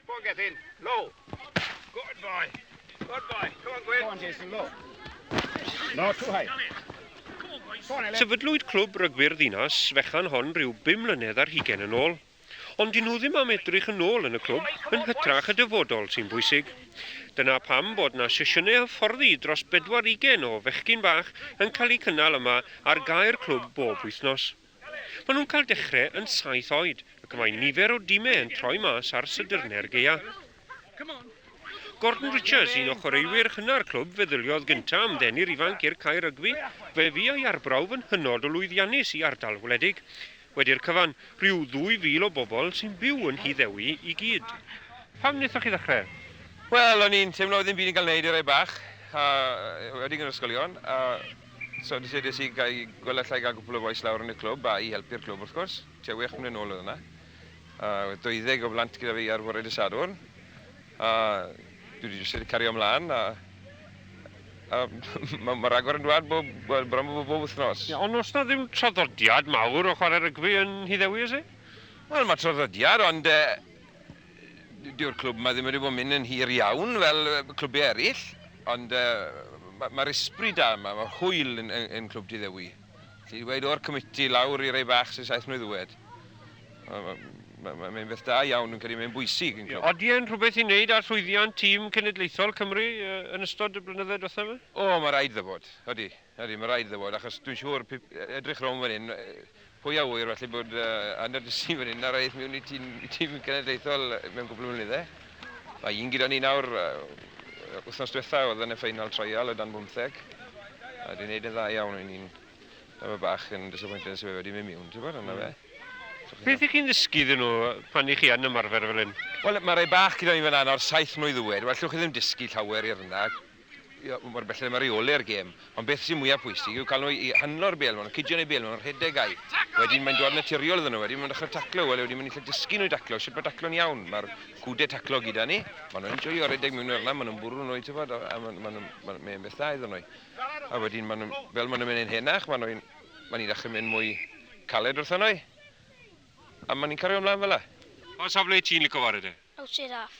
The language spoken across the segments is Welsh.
Go get in. Low. Good boy. Good boy. Come on, Gwyn. Go on, Jason, low. No, too high. Sefydlwyd clwb rygbi'r ddinas fechan hon rhyw bum mlynedd ar hugen yn ôl. Ond dyn nhw ddim am edrych yn ôl yn y clwb yn hytrach y dyfodol sy'n bwysig. Dyna pam bod na sesiynau hyfforddi dros bedwar ugen o fechgyn bach yn cael eu cynnal yma ar gae'r clwb bob wythnos. Maen nhw'n cael dechrau yn saith oed ac mae nifer o dimau yn troi mas ar sydrnau'r gaeaf. Gordon Richards, un o chwaraewyr hynna'r clwb, feddyliodd gyntaf am ddeni'r ifanc i'r cae rygbi, fe fu ei arbrawf yn hynod o lwyddiannus i ardal wledig. Wedi'r cyfan, rhyw 2,000 o bobl sy'n byw yn Nhŷ Ddewi i gyd. Pam wnaethoch chi ddechrau? Wel, o'n i'n teimlo oedd dim byd yn cael ei wneud i rai bach, a wedi yn yr ysgolion, a So nes i nes i gael gweld allai gael gwpl o bois lawr yn y clwb a i helpu'r clwb wrth gwrs. Tua wech mlynedd nôl oedd yna. A oedd dwyddeg o blant gyda fi ar fore dy Sadwrn. A dwi wedi jyst wedi cario ymlaen a a mae ma ragor yn dwad bob, wel, bron bob, bob wythnos. Ie, ond oes na ddim traddodiad mawr o chwarae rygbi yn Nhŷ Ddewi, oes e? Wel, mae traddodiad, ond e, Dyw'r clwb yma ddim wedi bod yn mynd yn hir iawn fel clwbiau eraill, ond uh, mae'r ysbri da yma, mae'r hwyl yn, yn, yn clwb diddewi. Ti'n dweud o'r comiti lawr i rei bach sy'n saith mlynedd ddwed. Mae'n beth da iawn, yn credu mae'n bwysig yn clwb. Oeddi e'n rhywbeth i wneud â'r llwyddiant tîm cenedlaethol Cymru yn ystod y blynyddoedd diwethaf yma? O, mae rhaid dda bod, oeddi. Nadi, mae'n rhaid iddo fod, achos dwi'n siŵr, edrych rownd fan hyn, pwy a ŵyr falle bod Anna Dysi fan hyn ar eith mewn i tîm cenedlaethol mewn gwbl o flynydde. Mae un gyda ni nawr, wythnos diwetha oedd yn y ffeinal traial o dan bymtheg, a dwi'n neud yn dda iawn, o'n i'n efo fy bach yn disappointed os yw e wedi mynd miwn, ti'n gwybod, yna fe. Beth i chi'n ddysgu iddyn nhw pan i chi yn ymarfer fel hyn? Wel, mae rhai bach gyda ni fan 'na nawr, saith mlwydd oed, well, llwch chi ddim dysgu llawer i'r 'na, mor bell â reoli'r gêm, ond beth sy'n mwyaf pwysig yw cael nhw i handlo'r bêl, maen nhw'n cydio yn eu bêl, maen nhw'n rhedeg ai. Wedyn mae'n dod naturiol iddyn nhw, wedyn maen nhw'n dechrau taclo, wel wedyn maen nhw'n gallu dysgu nhw i daclo, sut mae taclo'n iawn, mae'r gwdau taclo gyda ni, maen nhw'n enjoio rhedeg mewn i'r lan, maen nhw'n bwrw nhw, tybod, a maen, maen, maen, mae'n beth dda iddyn nhw. A wedyn maen nhw'n, fel maen nhw'n mynd yn henach, maen nhw'n, maen nhw'n dechrau mynd mwy caled wrthyn nhw, a maen nhw'n cario ymlaen fel yna. Pa safle ti'n licio chwarae de? Awt siarad.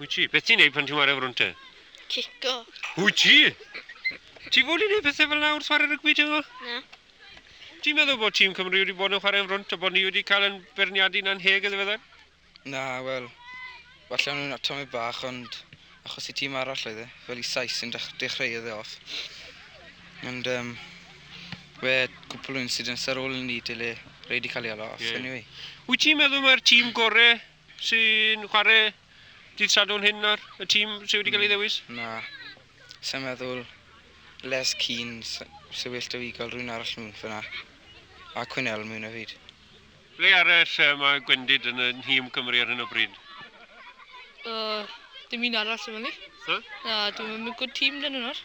Wyt ti? Beth ti'n neud pan ti'n ware frwn te? Cico. Wyt ti? Ti fod i neud pethau fel nawr chwarae rygbi ti fo? Na. Ti'n meddwl bod tîm Cymru wedi bod yn chwarae yn frwnt a bod ni wedi cael yn berniadu na'n heg yn ddiweddar? Na, wel, falle nhw'n atomau bach, ond achos i tîm arall oedd e, fel i Sais sy'n dechreu oedd e off. Ond um, we cwpl o incidents ar ôl i ni dyle rei wedi cael ei alo off, yeah. anyway. Wyt ti'n meddwl mae'r tîm gorau Sy'n chwarae dydd Sadwrn hyn nawr? Y tîm sydd wedi cael ei ddewis? Na. Sa'n meddwl Les Keane sy'n well da fi gael rhywun arall mewn fyna. A Cwynel mewn o fyd. Ble arall mae Gwendid yn y nhîm Cymru ar hyn o bryd? Dim un arall sy'n fyny. Na, dim yn mynd good team dyn nhw nawr.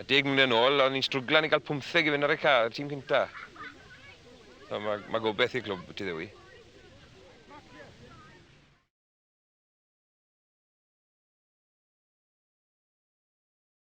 A deg mlynedd yn ôl, o'n ni'n strwglan i gael pwmtheg i fynd ar y ca, y tîm cynta. So, mae, mae gobeith i'r clwb ti ddewi.